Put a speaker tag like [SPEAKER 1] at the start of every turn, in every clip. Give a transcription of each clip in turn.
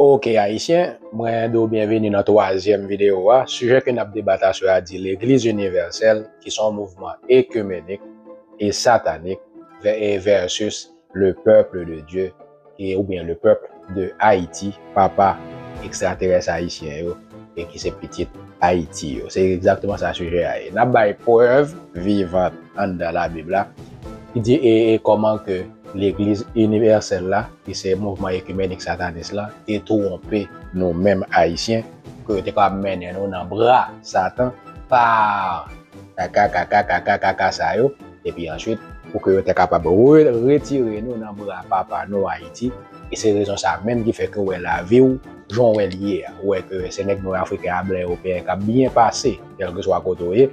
[SPEAKER 1] Ok Ayisyen, mwen di w byenveni nan twazyèm videyo a. Sijè ke n ap debat aswè a di Legliz Inivèsèl ki se yon mouvman ekimenik e satanik vs le peuple de Dieu e oubyen le peuple de Haïti, papa ekstraterès Ayisyen yo e ki se pitit Ayiti yo. Se egzakteman sa sijè a ye. N ap bay prèv vivant anndan labib la ki di e kòman ke Legliz Inivèsèl la, ki se mouvman ekimenik satanis la, te twonpe nou menm Ayisyen pou yo te kapab mennen nou nan bra Satan pa kaka kaka kaka kaka sa yo, epi answit pou ke yo te kapab retire nou nan bra papa nou Ayiti, e se rezon sa menm ki fè ke w wè lavi w jan w wè l ye a, ou wè ke se nèg nwè Afriken a, blan, Ewopeyen k ap byen pase kèlkeswa kote w ye,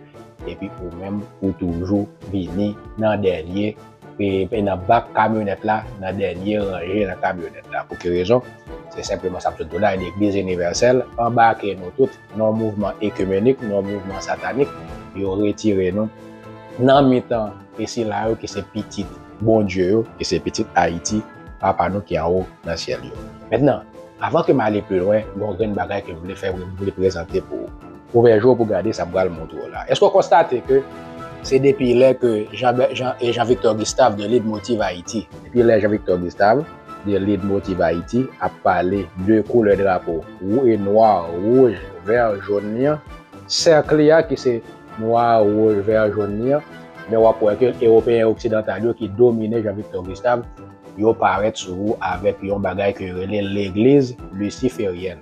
[SPEAKER 1] epi ou menm ou toujou vini nan dènye. e nan bak kamyonèt la, nan dènye ranje nan kamyonèt la. Pou ki rezon? Se senpleman sa m sot di w la, Legliz Inivèsèl anbake nou tout nan yon mouvman ekimenik, nan yon mouvman satanik. Yo retire nou nan mitan e sila yo ki se pitit Bondye yo, ki se pitit Ayiti, Papa nou ki anwo nan Syèl yo. Mentnan, avan ke m ale pi lwen, gen yon grenn bagay ke m vle fè, m vle prezante pou ou. Ouvè je w pou gade sa m pral montre w la. Èske w konstate ke se depi lè ke Jean Victor Gustave de Lead Motiv Ayiti, Depi lè Jean Victor Gustave de Lead Motiv Ayiti ap pale de koulè drapo wou e nwa, wouj, vè, jón li an, sèk li a ki se nwa, wouj, vè, jón li an, men w ap wè ke Ewopeyen oksidantal yo ki domine Jean Victor Gustave, yo parèt sou wou avèk yon bagay ke yo rele Legliz Lisiferyèn.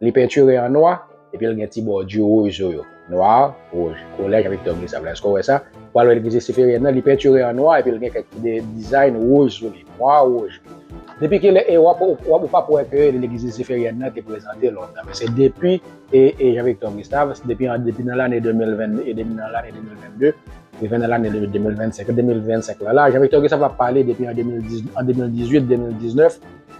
[SPEAKER 1] Li pentire an nwa, epi l gen ti bòdi wouj sou yo. Noir, rouge. Collège Victor Gustave la, èske w wè sa? Pou al Leglize Siperyè nan, li pentire an nwa epi l gen kèk ti design wouj sou li. Noir, rouge. Depi ki lè e, w ap, w ap, ou p ap wè ke Leglize Siperyè nan te prezante lontan. Men se depi e, e Jean Victor Gustave, se depi an, depi nan lane 2020, e depi nan lane 2022, rive nan lane 2025. 2025 lan la, Jean Victor Gustave ap pale depi an 2010, an 2018, 2019,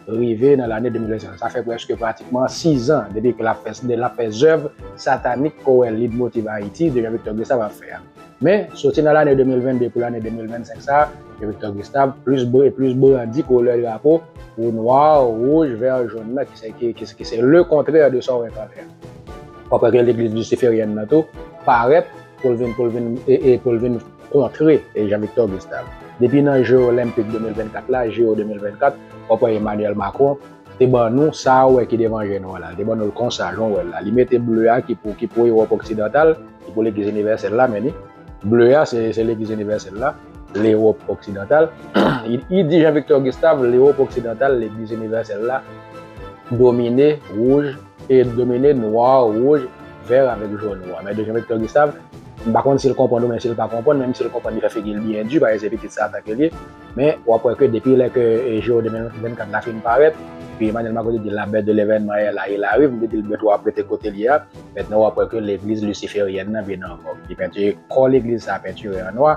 [SPEAKER 1] rive nan lane 2025 la. Sa fè prèske pratikman 6 an depi ke l ap fè sa, l ap fè zèv satanik Kowèl Leadmotiv Ayiti ke Jean-Victor Gustave ap fè a. Men, soti nan lane 2022 pou lane 2025 sa a, Jean-Victor Gustave plis e plis brandi koulè drapo ou nwa, wouj, vè, jòn nan ki se ki se le kontrè de sa ou enkantre a. Kòpè ke Legliz Lisiferyèn nan tou parèt pou l vin pou l vin e pou l vin kontre Jean Victor Gustave. Depi nan je olenpik 2024 la, JO 2024, w ap wè Emmanuel Macron te ban nou sa ou wè ki devan je nou an la, li te ban nou l konsa jan w wè l la, li mete ble a ki pou ki pou Ewòp oksidantal, ki pou legliz inivèsèl la men ni, ble a se se legliz inivèsèl la, Lewòp oksidantal, li di Jean Victor Gustave Lewòp oksidantal, legliz inivèsèl la domine wouj. e domine noir, rouge, vert avèk jaune ou a. Mèt Dejean Victor Gustave, m pa konn si l konprann ou men si l pa konprann, menm si l konprann li fè figi l byen di paske se pitit sa ata ke l ye, men w ap wè ke depi lè ke JO 2024 la fin parèt, epi Emmanuel Macron te di la bèt de levènman è la, il arrive, m te di l bèt ou a ap rete kote l ye a, mètnan w ap wè ke legliz lisiferièn nan vin ankò, li pentire kò legliz sa pentire an nwa.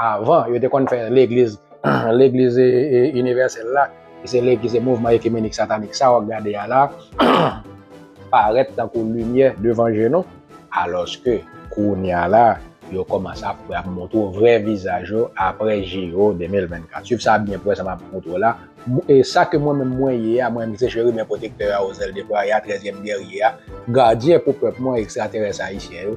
[SPEAKER 1] Avan, yo te konn fè legliz, legliz inivèsèl la, ki se legliz, se mouvman ekimenik satanik sa w ap gade a la, parèt tankou limyè devan je nou, alòske kounye a la, yo kòmanse ap pran, ap montre w vrè vizaj yo aprè JO 2024. Swiv sa byen prè sa m ap montre w la. E sa ke mwen menm mwen ye a, mwen menm ki se Cheriben Pwotektè a, Ozèl Depraya, Trèzyèm Gèrye a, Gadyen pou pèp mwen, Ekstraterès Ayisyen yo,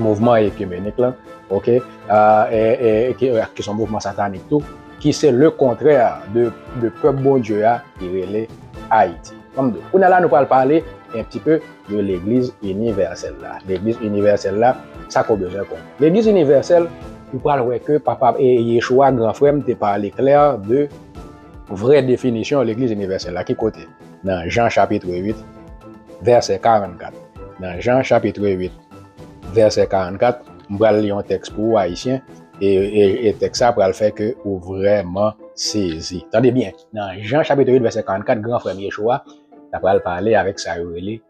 [SPEAKER 1] mouvman ekimenik lan, ok, ki son mouvman satanik tou, ki se le kontrè de pèp Bondye a ki rele Ayiti. Kounye a la nou pral pale un petit peu de legliz inivèsèl la. Legliz inivèsèl la, sa ke w bezwen konnen. Legliz inivèsèl, ou pral wè ke papa e Yechua gran frè m te pale klè de vrè definisyon legliz inivèsèl la. Ki kote? nan Jan chapitre 8 vèsè 44 nan Jan chapitre 8 vèsè 44 m pral li yon tèks pou ou ayisyen e e tèks sa pral fè ke ou vrèman sezi tande byen nan Jan chapitre 8 vèsè 44 gran frè m Yeshua ta pral pale avèk sa yo rele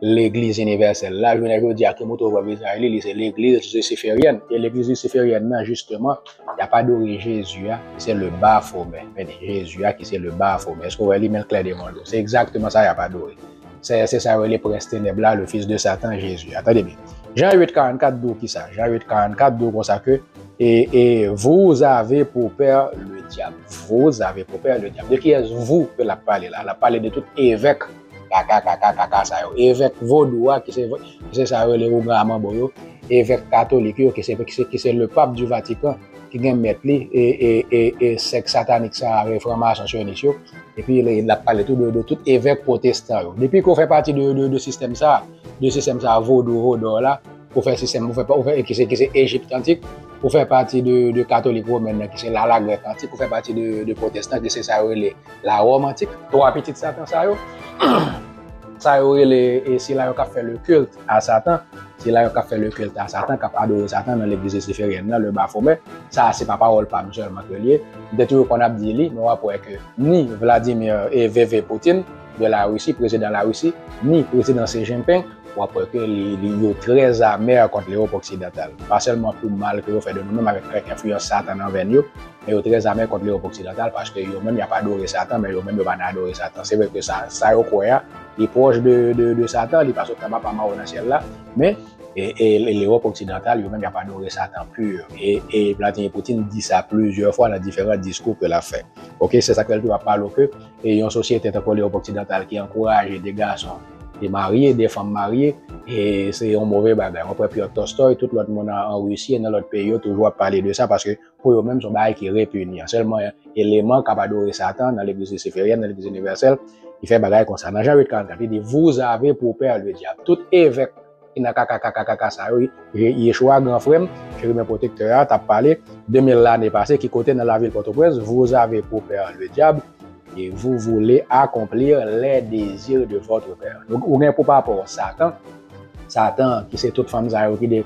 [SPEAKER 1] Legliz Inivèsèl la, jounen jodi a, ki mouton vwa vizaj li, li se Legliz Lisiferyèn. E Legliz Lisiferyèn nan, jisteman, y ap adore Jezi a, ki se Le Bafomè. Mède, Jezi a ki se Le Bafomè. Èske w wè li menm klè devan dlo? Se egzakteman sa y ap adore. Se, se sa yo rele Prens Tenèb la, Le Fils de Satan, Jezi a. Tande byen. Jan 8, 44 di w ki sa? Jan 8, 44 di w kon sa ke, E, e, vous avez pour père le diable. Vous avez pour père le diable. De kiyès vous ke l ap pale la? L ap pale de tout evèk. Kaka kaka kaka sa yo. Evèk vodou a ki se sa yo rele Ougan Manbo yo, evèk katolik yo ki se le pape du Vatican ki gen mèt li e sèk satanik sa a fran mason sionis yo epi l ap pale tou de tout evèk pwotestan yo. Depi ke w fè pati de sistèm sa a, de sistèm sa a vodou vodò la, Ou fè sistèm, ou fè pa, ou fè ki se ki se Egypt antik, ou fè pati de de katolik romen nan ki se la la grèk antik, ou fè pati de de protestant ki se sa yo rele la Rome antik. Twa pitit satan sa yo, sa yo rele e sila yo kap fè le culte a satan, sila yo kap fè le culte a satan, kap adore satan nan legliz lisiferyèn nan, le baphomet, sa a se pa pawòl pa m sèlman ke l ye, m te toujou konn ap di li, men wap wè ke ni Vladimir e VV Poutine, de la Russie, prezidan la Russie, ni prezidan Xi Jinping, w ap wè ke li, li, yo trè amer kont Lewop oksidantal. Pa sèlman pou mal ke yo fè de nou menm avèk kèk enfliyans Satan nan venn yo, men yo trè amer kont Lewop oksidantal paske yo menm y ap adore Satan, men yo menm yo pa nan adore Satan. Se vre ke sa, sa yo kwè a, li pwòch de, de, de Satan, li pa sot anba pa mawo nan syèl la, men, e, e, e Lewop oksidantal yo menm y ap adore Satan pur. E, e Vladimir Poutine di sa plizyè fwa nan diferan diskou ke l ap fè. Ok, se sa k fè l toujou ap pale w ke. E yon sosyete tankou Lewòp oksidantal ki ankouraje de gason te marye, de fanm marye, e se yon move bagay. Mwen kwè Pyotr Tolstoy, tout lòt moun an Risi e nan lòt peyi yo toujou ap pale de sa paske pou yo menm se yon bagay ki repinya. Sèlman eleman k ap adore Satan nan Legliz lisiferyèn, nan Legliz inivèsèl ki fè bagay konsa. Nan Jan 8, 44, li di, Vous avez pour père le diable. Tout evèk. Ki nan kaka kaka kaka sa yo wi. Yeshua gran frèm, cheriben pwotektè a tap pale 2000 lane pase ki kote nan lavil pòtoprens vous avez pour père le diable et vous voulez accomplir les désirs de votre père donc ou gen pou papa w satan satan ki se tout fanm sa yo ki de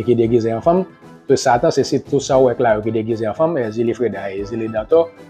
[SPEAKER 1] ki degize an fanm tout satan se si tout sa ou wè k la yo ki degize an fanm èzili freda èzili dantò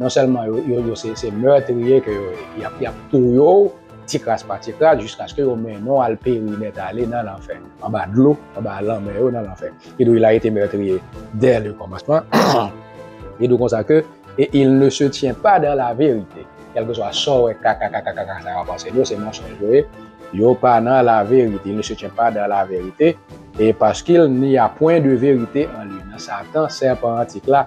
[SPEAKER 1] non sèlman yo se meurtrier ke yo ye, y ap touye w ti kras pa ti kras jiskaske yo mennen w al peri nèt ale nan lanfè, anba dlo, anba lanmè yo nan lanfè. Kidonk il a ete meurtrier dè le kòmansman, kidonk konsa ke e il ne se tient pas dans la vérité, kèlkeswa sa w wè kakakakakaka sa yo ap anseye w se mensonj yo ye, yo pa nan la vérité, il ne se tient pas dans la vérité, et parce qu'il n'y a point de vérité en lui, nan satan, sèpan antik la.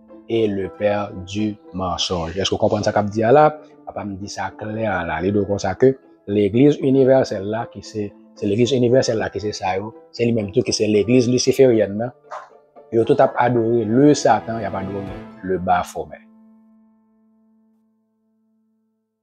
[SPEAKER 1] et le père du mensonge. Èske ou konprann sa kap di a la? Papa m di sa klè a la. Li do konsa ke legliz inivèsèl la ki se se legliz inivèsèl la ki se sa yo, se li menm tou ki se legliz lisiferyèn nan. Yo tout ap adore le satan, y ap adore le baphomet.